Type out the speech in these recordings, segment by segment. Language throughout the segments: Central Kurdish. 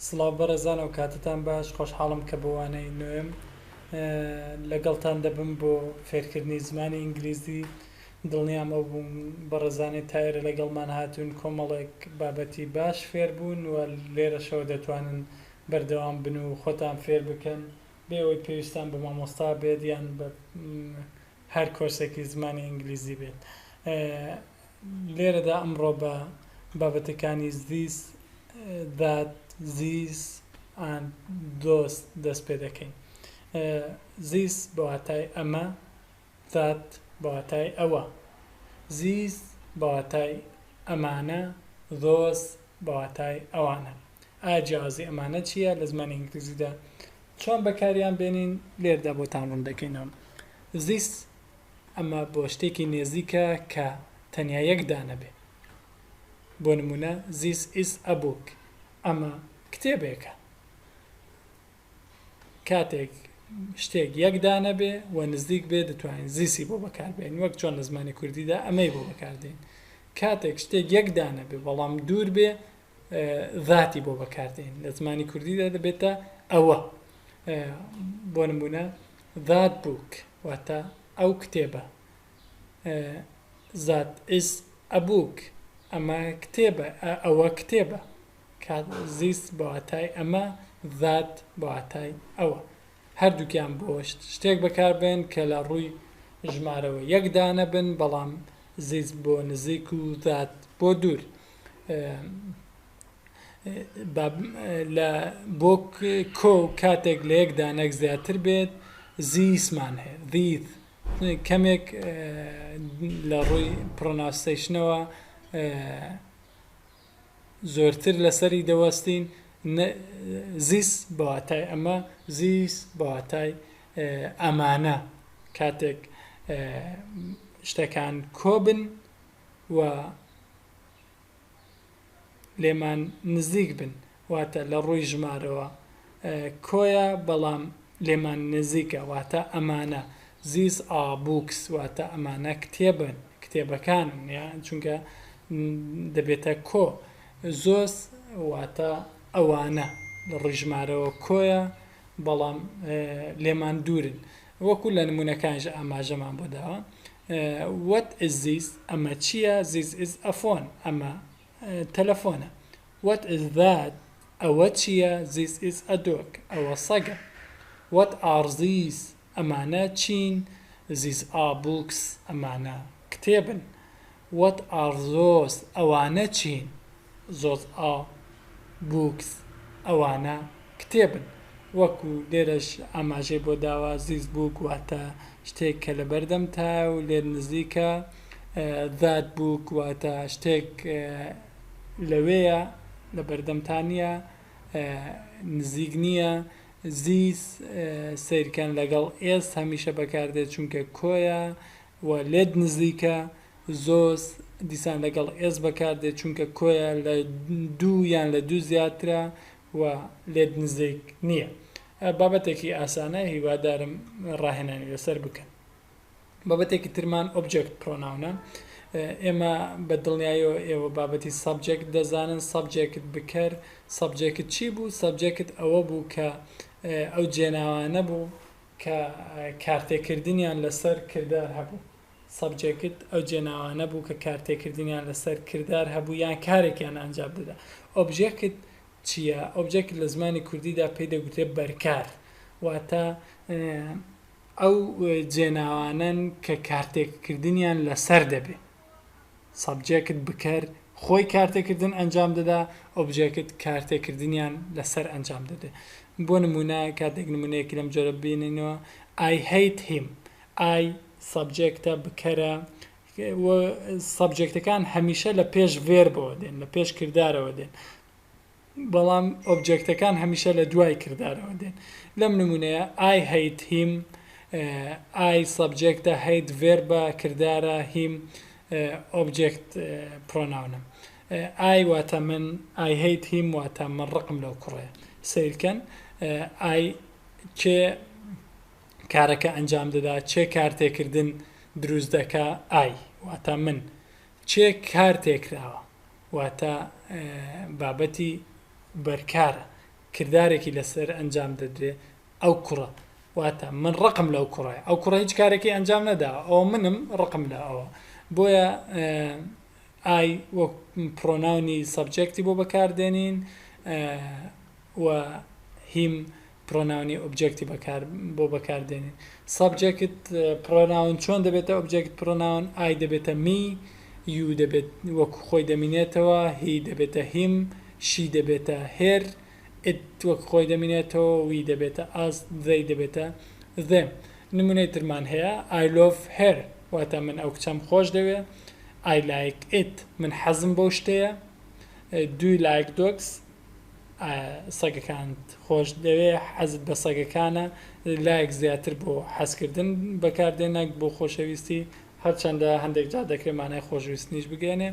سڵاو بەڕێزان ئەوکاتەتان باش خۆشحاڵم کە بۆ وانەی نۆیەم لەگەڵتان دەبم بۆ فێرکردنی زمانی ئینگلیزی دڵنیام ئەو بووم بەڕێزانەی تائێرە لەگەڵمان هاتوون کۆمەڵێک بابەتی باش فێربوون و لێرەشەوە دەتوانن بەردەوام بن و خۆتان فێر بکەن بێ ئەوەی پێویستان بە مامۆستا بێت یان بە هەر کۆرسێکی زمانی ئینگلیزی بێت لێرەدا ئەمڕۆ بە بابەتەکانی زیس، ذات، زیس، and، those، دەست پێ دەکەین. زیس بە واتای ئەمە، ذات بە واتای ئەوە، زیس بە واتای ئەمانە، ذۆس بە واتای ئەوانە. ئایا جیاوازی ئەمانە چییە لە زمانی ئینگلیزیدا؟ چۆن بەکاریان بێنین؟ لێرەدا بۆتان ڕوون دەکەینەوە. زیس. ئەمە بۆ شتێکی نێزیکە کە تەنیا یەک دانە بێ بۆ نموونە This is a book ئەمە کتێبێکە کاتێک شتێک یەک دانە بێ و نزیک بێ دەتوانین زیسی بۆ بەکاربێن وەک چۆن لە زمانی کوردیدا ئەمەی بۆ بەکاردێن کاتێک شتێک یەک دانە بێ بەڵام دوور بێ ذاتی بۆ بەکاردێنین لە زمانی کوردیدا دەبێتە ئەوە بۆ نمونە ذات بووک واتە ئەو کتێبە ذات ئیس ئەبووک ئەمە کتێبە ئەوە کتێبە زیست بەواتای ئەمە ذات بەواتای ئەوە هەردووکیان بۆ شتێک بەکاربێن کە لە ڕووی ژمارەوە یەکدانە بن بەڵام زیست بۆ نزیک و ذات بۆ دوور لە بۆ کۆ و کاتێک لە یەک دانەک زیاتر بێت زیسمان هەیە دیت کەمێک لە ڕووی پڕۆناستەیشنەوە زۆرتر لەسەری دەوەستین زیس بەواتای ئەمە زیس بەواتای ئەمانە کاتێک شتەکان کۆبن و لێمان نزیک بن، واتە لە ڕووی ژمارەوە کۆیە بەڵام لێمان نزیکە واتە ئەمانە، These are books، واتە ئەمانە کتێبن، کتێبەکانن، چونکە دەبێتە کۆ، Those واتە ئەوانە لە ڕووی ژمارەوە کۆیە بەڵام لێمان دوورن، وەکو لە نموونەکانیشدا ئاماژەمان بۆ داوە. وەت ئیز زیس ئەمە چییە زیس ئیز ئە فۆن ئەمە تەلەفۆنە وەت ئیز زات ئەوە چییە زیس ئیز ئە دۆگ ئەوە سەگە وەت ئار زیس ئەمانە چین زیس ئار بووکس ئەمانە کتێبن وەت ئار زۆس ئەوانە چین زۆزئا بووکس ئەوانە کتێبن. وەکو لێرەش ئاماژەی بۆ داوە زیس بووک واتە شتێک کە لە بەردەمتایە و لێت نزیکە، زات بووک واتە شتێک لەوێیە لە بەردەمتا نییە، نزیک نییە، زیس سەیرکەن لەگەڵ ئێس هەمیشە بەکاردێت چونکە کۆیە، و لێت نزیکە زۆز دیسان لەگەڵ ئێس بەکار دێت چونکە کۆیە لە دوو یان لە دوو زیاترە و لێت نزیک نییە بابەتێکی ئاسانە هیوادارم ڕاهێنانی لەسەر بکەن بابەتێکی ترمان ئۆبجێکت پرۆناونە ئێمە بە دڵنیایەوە ئێوە بابەتی سەبجێکت دەزانن سەبجێکت بکەر سەبجێکت چی بوو سەبجێکت ئەوە بوو کە ئەو جێناوانە بوو کە کارتێکردنیان لەسەر کردار هەبوو، سەبجێکت، ئەو جێناوانە بوو کە کارتێکردنیان لەسەر کردار هەبوو یان کارێکیان ئەنجام دەدا. ئۆبژێکت چییە؟ ئۆبژێکت لە زمانی کوردیدا پێی دەگوترێت بەرکار، واتە ئەو جێناوانەن کە کارتێکردنیان لەسەر دەبێ. سەبجێکت بکەر خۆی کارتێکردن ئەنجام دەدا ئۆبجێکت کارتێکردنیان لەسەر ئەنجام دەدێ بۆ نمونە کاتێک نمونەیەکی لەم جۆرە بینینەوە I hate him I سەبجێکتە بکەرە سەبجێکتەکان هەمیشە لە پێش ڤێربەوە دێن لە پێش کردارەوە دێن بەڵام ئۆبجێکتەکان هەمیشە لە دوای کردارەوە دێن. لەم نموونەیە، I hate him، I سەبجێکتە، hate ڤێربە، کردارە، him ئۆبجێکت پڕۆناونە. I واتە من، I hate him واتە من ڕقم لەو کوڕەیە. سەیرکەن، I کێ کارەکە ئەنجام دەدا، چێ کارتێکردن دروست دەکا، I واتە من، چێک کار تێکراوە واتە بابەتی بەرکارە کردارێکی لەسەر ئەنجام دەدرێ ئەو کوڕە واتە من ڕقم لەو کوڕای ئەو کوڕە هیچ کارێکی ئەنجام نەداوە ئەو منم ڕقم لە ئەوە بۆیە ئای وەک پرۆناونی سەبجێکتی بۆ بەکاردێنین و هیم پڕۆناونی ئۆبجێکتی بەکار بۆ بەکار دێنین. سەبجێکت پڕۆناون چۆن دەبێتە ئۆبجێکت پڕۆناون، ئای دەبێتە می، یو دەبێت وەکو خۆی دەمینێتەوە، هی دەبێتە هیم، شی دەبێتە هێر، ئیت وەک خۆی دەمینێتەوە، وی دەبێتە ئاس، زەی دەبێتە زێم. نمونەی ترمان هەیە، ئای لۆڤ هێر واتە من ئەو کچەم خۆش دەوێ، ئای لایک ئیت من حەزم بەو شتەیە، دو ی لایک دۆگس؟ سەگەکانت خۆش دەوێ حەزت بە سەگەکانە لایەک زیاتر بۆ حەزکردن بەکاردێن نەک بۆ خۆشەویستی هەرچەندە هەندێک جا دەکرێت مانای خۆشویستنیش بگەێنێ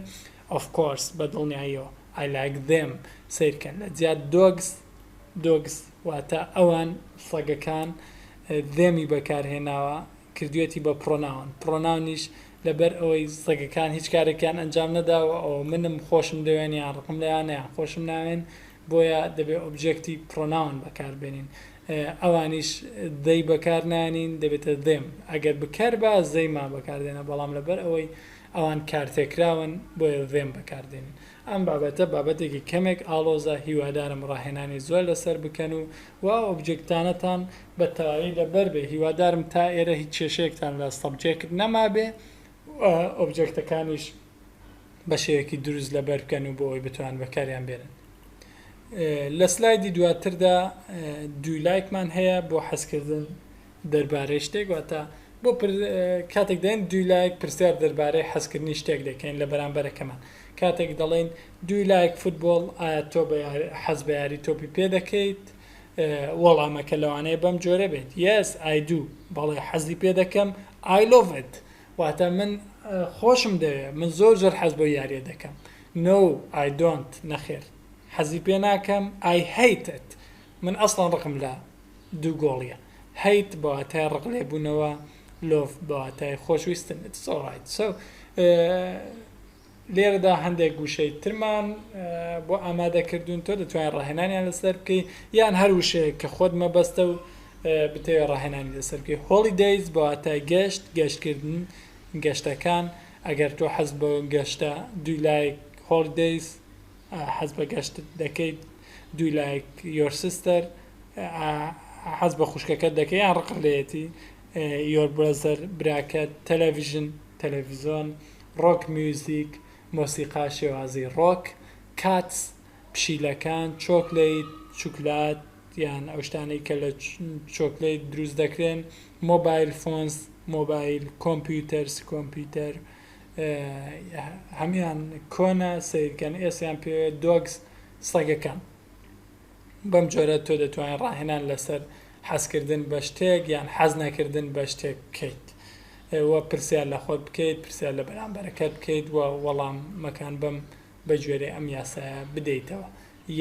of course بە دڵنیاییەوە I like them سیرکەن لە جیا dogs dogs واتە ئەوان سەگەکان them ی بەکارهێناوە کردویەتی بە پڕۆناون، پڕۆناونیش لەبەر ئەوەی سەگەکان هیچ کارێکیان ئەنجام نەداوە ئەوە منم خۆشم دەوێن یان ڕقم لێیانە یان خۆشم ناوێن بۆیە دەبێ ئۆبجێکتی پڕۆناون بەکار بێنین ئەوانیش they بەکار نایەنین دەبێتە them ئەگەر بکەربا they ما بەکار دێنە بەڵام لەبەر ئەوەی ئەوان کارتێکراون بۆیە them بەکار دێنین ئەم بابەتە بابەتێکی کەمێک ئاڵۆزە، هیوادارم ڕاهێنانی زۆر لەسەر بکەن و وا ئۆبجێکتانەتان بە تەواوی لەبەر بێ، هیوادارم تا ئێرە هیچ کێشەیەکتان لە سەبجێکت نەمابێ و ئۆبجێکتەکانیش بە شێوەیەکی دروست لەبەر بکەن و بۆ ئەوەی بتوان بەکاریان بێنن. لە سلایدی دواتردا دوو لایکمان هەیە بۆ حەزکردن دەربارەی شتێک واتە بۆ پر کاتێک دەین دوی لایک پرسیار دەربارەی حەزکردنی شتێک دەکەین لە بەرامبەرەکەمان کاتێک دەڵێین دوی لایک فوتبۆڵ ئایا تۆ بە حەز بە یاری تۆپی پێ دەکەیت وەڵامەکە لەوانەیە بەم جۆرە بێت یەس ئای دوو بەڵێ حەزی پێ دەکەم ئای لۆڤت واتە من خۆشم دەوێ من زۆر زۆر حەز بۆ یاریە دەکەم نۆ ئای دۆنت نەخێر حەزی پێ ناکەم ئای هەیتت من ئەسڵەن ڕقم لە دوو گۆڵیە Hate بە واتای ڕق لێبوونەوە Love بە واتای خۆشویستن It's alright so لێرەدا هەندێک گوشەی ترمان بۆ ئامادە کردوون تۆ دەتوانین ڕاهێنانیان لەسەر بکەی یان هەر وشەیە کە خۆت مەبەستە و بتەوێ ڕاهێنانی لەسەر بکەی هۆڵی دەیز بە واتای گەشت گەشتکردن گەشتەکان ئەگەر تۆ حەز بە گەشتە دوی لایک هۆڵی دەیز حەز بە گەشت دەکەیت دوی لایک یۆر سیستەر حەز بە خوشکەکەت دەکەی یان ڕقت لێتی یۆر برەزەر براکەت تەلەڤیژن تەلەڤیزۆن ڕۆک میوزیک مۆسیقا شێوازی ڕۆک کاتس پشیلەکان چۆکلیت شوکلات یان ئەو شتانەی کە لە چۆکلیت دروست دەکرێن مۆبایل فۆنس مۆبایل کۆمپیوتەرس کۆمپیوتەر کۆمپیوتەر هەموان کۆنە سەیرکەن ئێسیان پێوێت دۆگس سەگەکان بەم جۆرە تۆ دەتوانین ڕاهێنان لەسەر حەزکردن بە شتێک یان حەز نەکردن بە شتێک بکەیت و پرسیار لە خۆت بکەیت پرسیار لە بەرامبەرەکەت بکەیت و وەڵامەکان بەم بە گوێرەی ئەم یاسایە بدەیتەوە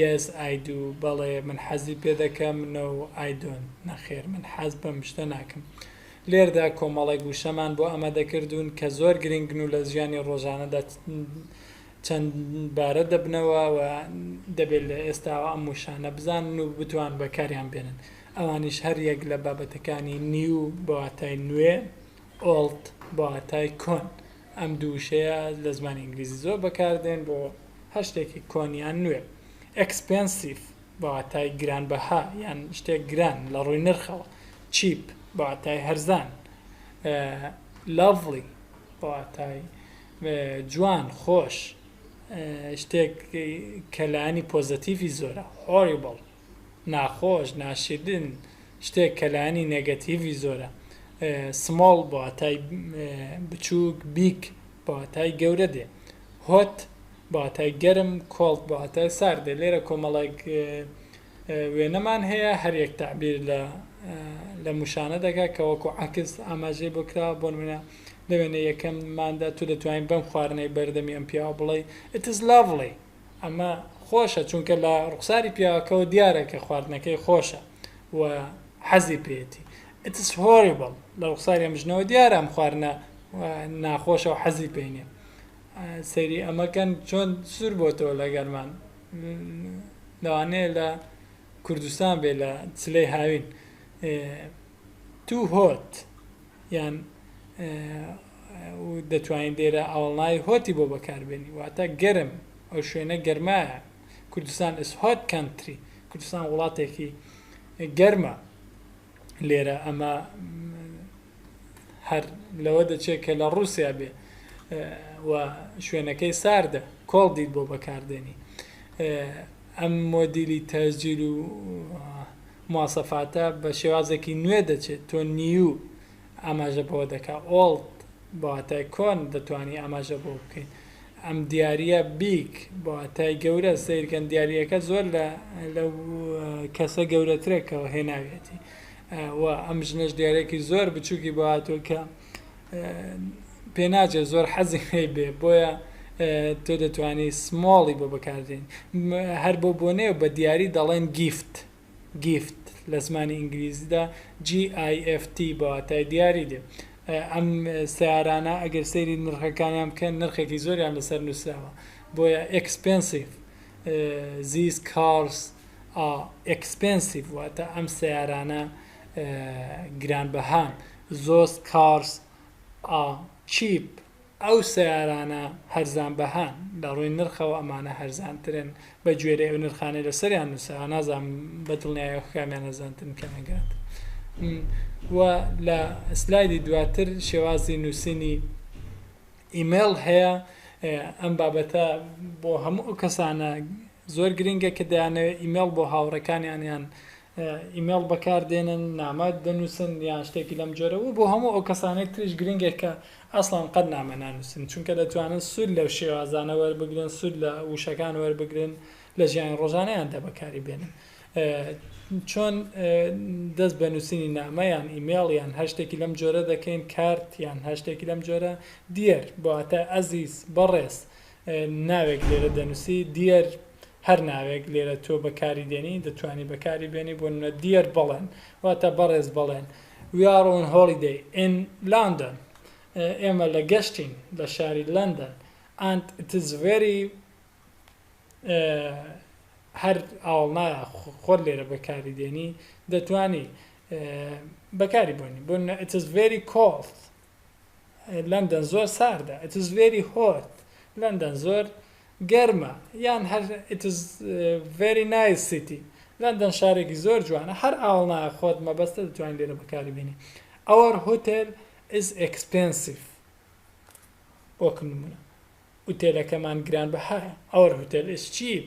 یەس ئای دو، بەڵێ من حەزی پێ دەکەم، نەو ئای دۆنت، نەخێر من حەز بەم شتە ناکەم. لێردا کۆمەڵێک وشەمان بۆ ئەمە دەکردوون کە زۆر گرنگن و لە ژیانی ڕۆژانەدا چەندبارە دەبنەوە و دەبێت لە ئێستاوە ئەم وشانە بزانن و بتوان بەکاریان بێنن. ئەوانیش هەر یەک لە بابەتەکانی New بە واتای نوێ، Old بە واتای کۆن ئەم دوو وشەیە لە زمانی ئینگلیزی زۆر بەکاردێن بۆ هەر شتێکی کۆن یان نوێ. Expensive بە واتای گرانبەها یان شتێک گران لە ڕووی نرخەوە. Cheap بە واتای هەرزان. Lovely بە واتای جوان، خۆش، شتێک کە لایەنی پۆزەتیڤی زۆرە. Horrible ناخۆش ناشیرن شتێک کە لایەنی نێگەتیڤی زۆرە سمۆڵ بە واتای بچووک بیگ بە واتای گەورە دێ هۆت بە واتای گەرم کۆڵد بە واتای سارد دێ لێرە کۆمەڵێک وێنەمان هەیە هەر یەک تەعبیر لە لە موشانە دەکات کە وەکو عکس ئاماژەی بۆ کراوە بۆ نمونە لە وێنە یەکەمماندا تو دەتوانین بەم خواردنەی بەردەمی ئەم پیاوە بڵێ It is lovely ئەمە خۆشە چونکە لە ڕوخساری پیاوەکەوە دیارە کە خواردنەکەی خۆشە و حەزی پێێتی ئتس هۆریبڵ لە ڕوخساری ئەمژنەوە دیارە ئەم خواردنە ناخۆشە و حەزی پێینێ سەیری ئەمەکەن چۆن سوور بۆتەوە لەگەرمان لەوانەیە لە کوردستان بێ لە چلەی هاوین تو هۆت یان و دەتوانین لێرە ئاوەڵناوی Hot ی بۆ بەکاربێنین واتە گەرم، ئەو شوێنە گەرمایە، Kurdistan is hot country، کوردستان وڵاتێکی گەرمە. لێرە ئەمە هەر لەوە دەچێت کە لە ڕووسیا بێ و شوێنەکەی ساردە کۆڵ دیت بۆ بەکاردێنی ئەم مۆدیلی تەسجیل و مواسەفاتە بە شێوازێکی نوێ دەچێت تۆ نیو ئاماژە بەوە دەکا ئۆڵد بە واتای کۆن دەتوانی ئاماژە بەوە بکەین ئەم دیارییە بیگ بە واتای گەورە سەیرکەن دیارییەکە زۆر لە لەو کەسە گەورەترە کە هێناویەتی و ئەم ژنەش دیارێکی زۆر بچووکی بۆ هاتووە کە پێناچێت زۆر حەزی هەی بێ بۆیە تۆ دەتوانی سمۆڵی بۆ بەکارێن هەر بۆ بۆنێ بە دیاری دەڵێن گیفت گیفت لە زمانی ئینگلیزیدا GIFT بەواتای دیاری دێ ئەم سیارانە ئەگەر سەیری نرخەکانیان بکەن نرخێکی زۆریان لەسەر نووسراوە بۆیە ئەکسپنسیف زیز کارس ئەکسپنسیف واتە ئەم سیارانە گرانبەهان، زۆست کارس ئا چیپ، ئەو سەیارانە هەرزانبەهان، لەڕووی نرخەوە ئەمانە هەرزانترن بەگوێرەی ئەو نرخانەی لەسەریان نووسراوە، نازانم بەدڵنیایەوە کامیان هەرزانترن کامیان گرانترن و لە سلایدی دواتر شێوازی نووسینی ئیمەیڵ هەیە، ئەم بابەتە بۆ هەموو ئەو کەسانە زۆر گرنگە کە دەیانەوێت ئیمەیڵ بۆ هاوڕێکانیان یان ئیمێڵ بەکار دێنن، نامە دەنووسن یان شتێکی لەم جۆرە و بۆ هەموو ئەو کەسانەی تریش گرنگە کە ئەسڵەن قەت نامە نانووسن، چونکە دەتوانن سوود لەو شێوازانە وەربگرن، سوود لە وشەکان وەربگرن، لە ژیانی ڕۆژانەیاندا بەکاری بێنن. چۆن دەست بە نووسینی نامە یان ئیمێڵ یان هەر شتێکی لەم جۆرە دەکەین، کارت یان هەر شتێکی لەم جۆرە، Dear بە واتای ئەزیز، بەڕێز، ناوێک لێرە دەنووسی، Dear، هەر ناوێک لێرە تۆ بەکاری دێنی، دەتوانی بەکاری بێنی، بۆ نموونە، Dear بەڵێن، واتە بەڕێز بەڵێن. We are on holiday in London، ئێمە لە گەشتین لە شاری لەندەن. And it is very، هەر ئاوەڵنایە خۆت لێرە بەکاری دێنی، دەتوانی بەکاری بێنی، بۆ نموونە، It is very cold، لەندەن زۆر ساردە. It is very hot. لەندەن زۆر گەرمە. یان هەر It is very nice city. لەندەن شارێکی زۆر جوانە. هەر ئاوەڵنایە خۆت مەبەستە دەتوانی لێرە بەکاری بێنی. Our hotel is expensive. وەک نموونە. ئوتێلەکەمان گرانبەهایە. Our hotel is cheap.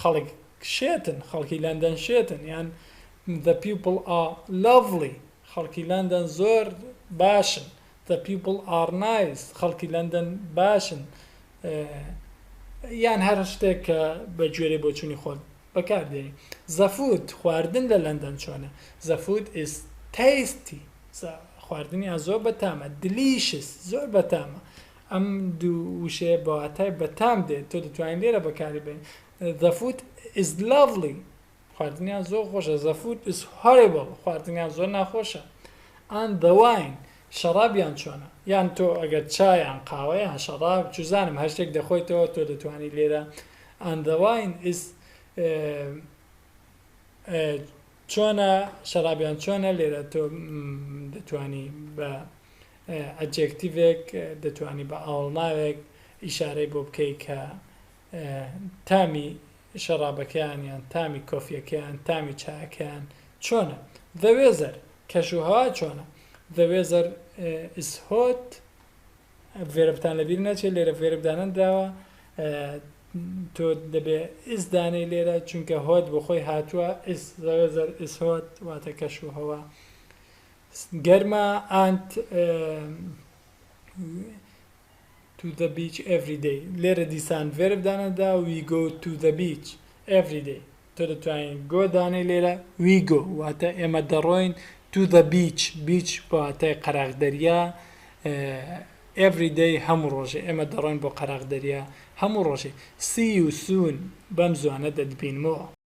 خەڵک شێتن خەڵکی لەندەن شێتن یان The people are lovely خەڵکی لەندەن زۆر باشن The people are nice خەڵکی لەندەن باشن یان هەر شتێک کە بە گوێرەی بۆچوونی خۆت بەکاردێنی The food خواردن لە لەندەن چۆنە The food is tasty خواردنیان زۆر بەتامە Delicious زۆر بەتامە ئەم دوو وشەیە بە واتای بەتام دێت تۆ دەتوانی لێرە بەکاری بێنی The food is lovely خواردنیان زۆر خۆشە The food is horrible خواردنیان زۆر ناخۆشە And the wine شەڕابیان چۆنە یان تۆ ئەگەر چایان قاوەیان شەڕاب چوزانم هەر شتێک دەخۆیتەوە تۆ دەتوانی لێرە And the wine is چۆنە شەڕابیان چۆنە لێرە تۆ دەتوانی بە ئەجێکتیڤێک دەتوانی بە ئاوەڵناوێک ئیشارەی بۆ بکەی کە تامی شەڕابەکەیان یان تامی کۆفیەکەیان تامی چایەکەیان چۆنە The weather کەش و هەوا چۆنە The weather is hot ڤێربتان لەبیر نەچێت لێرە ڤێرب دانەنراوە تۆ دەبێ ئیس دانەی لێرە چونکە هۆت بۆ خۆی هاتووە ئیس زەوێزەر ئیس هۆت واتە کەش و هەوا گەرمە ئانت تو زە بیچ ئێڤری دەی لێرە دیسان ڤێرب دانەدا وی گۆ تو زە بیچ ئێڤری دەی تۆ دەتوانی گۆ دانێی لێرە وی گۆ واتە ئێمە دەڕۆین تو زە بیچ بیچ بە واتای قەراغ دەریا ئێڤری دەی هەموو ڕۆژێ ئێمە دەڕۆین بۆ قەراغ دەریا هەموو ڕۆژێ سی یو سوون بەم زووانە دەتبینمەوە.